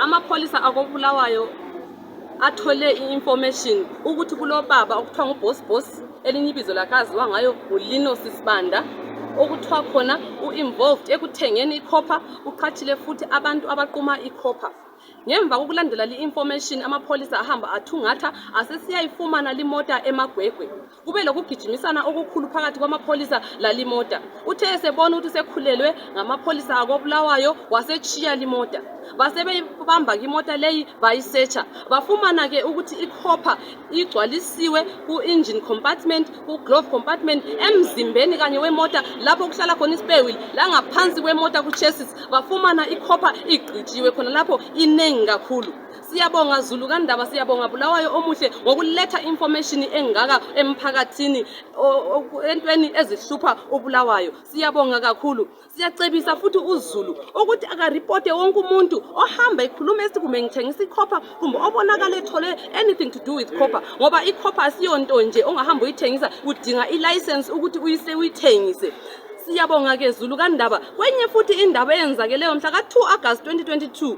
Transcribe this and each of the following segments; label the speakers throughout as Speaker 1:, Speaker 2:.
Speaker 1: Amapholisa akobulawayo athole i-information ukuthi kulobaba okuthiwa ngubosbos elinye ibizo lakaziwa ngayo ngulino sisibanda okuthiwa khona u-involved ekuthengeni ikhopha uqhathile futhi abantu abaquma ikhopha ngemva kokulandela li-information amapholisa ahamba athungatha asesiyayifumana limota emagwegwe kube lokugijimisana okukhulu phakathi kwamapholisa lalimota uthe esebona ukuthi sekhulelwe ngamapholisa akobulawayo wasetshiya limota basebeyibamba imota leyi bayisetsha bafumana ke ukuthi ikhopha igcwalisiwe ku-engine compartment ku-glove compartment emzimbeni kanye wemota lapho kuhlala khona isipewili langaphansi kwemota ku-chesis bafumana ikhopha igqitshiwe khona lapho inengi kakhulu Siyabonga Zulu kandaba siyabonga Bulawayo omuhle ngokuletha information engaka emphakathini entweni ezihlupha uBulawayo siyabonga kakhulu siyacebisa futhi uZulu ukuthi akaripote wonke umuntu ohamba ekhuluma esithi kumbe ngithengisa ikhopha kumbe obonakala ethole anything to do with khopha ngoba ikhopha asiyonto nje ongahamba uyithengisa udinga ilicense ukuthi uyise uyithengise siyabonga ke Zulu kandaba kwenye futhi indaba eyenzakeleyo mhla ka 2 August 2022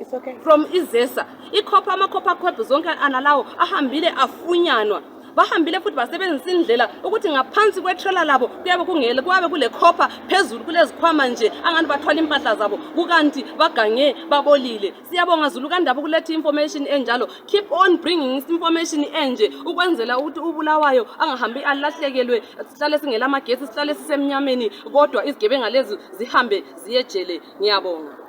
Speaker 1: It's okay. from izesa ikhopha amakhopha akhopha zonke analawo ahambile afunyanwa bahambile futhi basebenzisa indlela ukuthi ngaphansi kwetrela labo kuyabe kungele kuyabe kule khopha phezulu kulezikhwama nje angani bathwala impahla zabo kukanti bagange babolile siyabonga zulu kandaba ukuletha information enjalo keep on bringing information enje ukwenzela ukuthi ubulawayo angahambi alahlekelwe sihlale singela amagesi sihlale sisemnyameni kodwa izigebenga lezi zihambe ziyejele ngiyabonga